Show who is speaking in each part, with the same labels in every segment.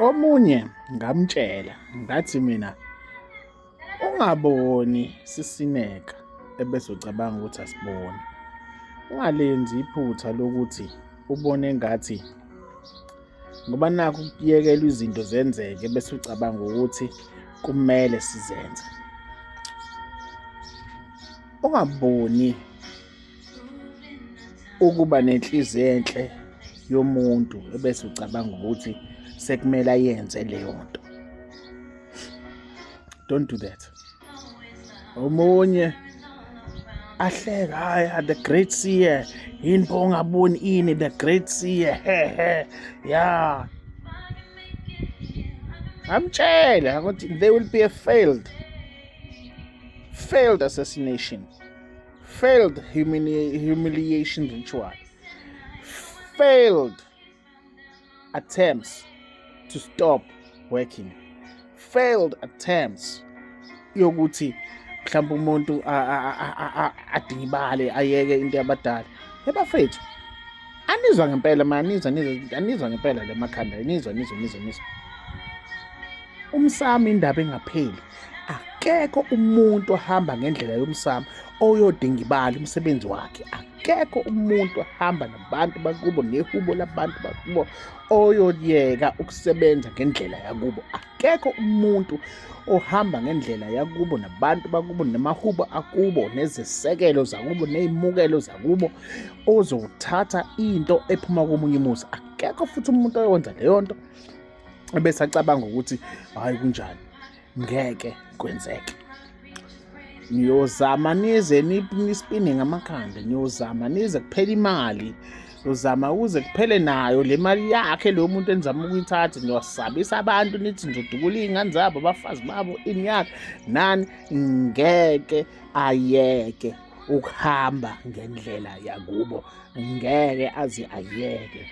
Speaker 1: omunye ngamtshela ngathi mina ungaboni sisineka ebese ucabanga ukuthi asiboni ungalenzi iphutha lokuthi ubone ngathi ngoba nakho kuyekelwa izinto zenzeke bese ucabanga ukuthi kumele sizenze ungaboni ukuba nenhliziyo enhle yomuntu ebese ucabanga ukuthi sekumele ayenze leyo nto don't do that omunye ahleka hayi ah, the great seer yini pho ungaboni ini the great seer hehe ya amtshele ukuthi they will be a failed failed assassination failed humili humiliation ritual, failed attempts to stop working, failed attempts yokuthi mhlawumbe umuntu adibale ayeke into yabadala ebafethu anizwa ngempela ma anizwa anizwa ngempela le makhanda anizwa anizwa anizwa anizwa umsamo indaba engapheli akekho umuntu ohamba ngendlela yomsamo oyodinga ibali umsebenzi wakhe akekho umuntu ohamba nabantu bakubo nehubo labantu bakubo oyoyeka ukusebenza ngendlela yakubo akekho umuntu ohamba ngendlela yakubo nabantu bakubo namahubo akubo nezisekelo zakubo nezimukelo zakubo ozothatha into ephuma komunye umuzi akekho futhi umuntu oyokwenza leyo nto ebese acabanga ukuthi hayi kunjani ngeke kwenzeke niyozama nize nispine ngamakhanda niyozama nize kuphela imali uzama ukuze kuphele nayo le mali yakhe leyo muntu enizama ukuyithatha niyosabisa abantu nithi nizodukula iy'ngane zabo abafazi babo ini yakhe nani ngeke ayeke ukuhamba ngendlela yakubo ngeke aze ayeke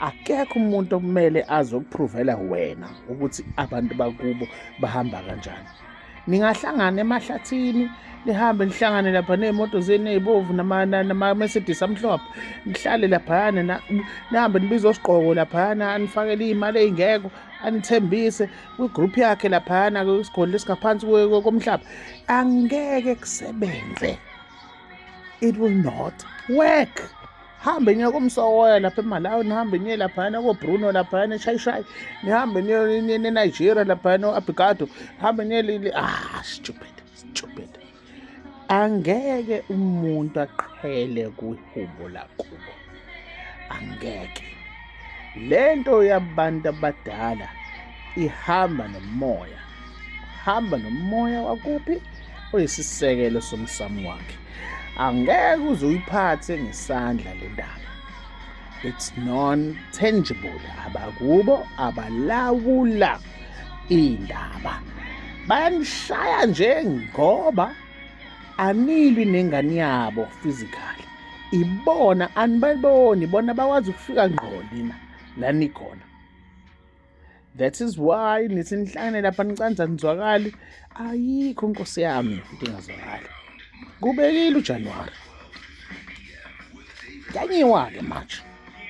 Speaker 1: akekho umuntu okumele azokupruvela wena ukuthi abantu bakubo bahamba kanjani ningahlangana emahlathini nihambe nihlangane lapha ney'moto zenu ey'bovu nama-mercedes amhlophe nihlale laphayana nihambe nibize osigqoko laphayana anifakele iy'mali ey'ngekho anithembise kwi-group yakhe laphayana isigodlo esingaphansi komhlaba angeke kusebenze it will not work hambe niye komsokoya lapha emalawi nihambe niye laphayana kobruno laphayana eshayishayi nihambe niye nenigeria laphayana o-abigado hambe niye ah stupid stupid angeke umuntu aqhele kwihubo lakubo angeke lento yabantu abadala ihamba nomoya hamba nomoya wakuphi oyisisekelo somsamo wakhe angeke uze uyiphathe ngesandla le ndaba it's non tangible abakubo abalawula iy'ndaba bayanishaya nje ngoba anilwi nengane yabo physically ibona anibaboni bona bakwazi ukufika ngqo lina la nikhona that is why nithi nihlangane lapha nicanza nizwakali ayikho nkosi yami into engazwakali kubekile ujanuwari yanyiwa-ke manje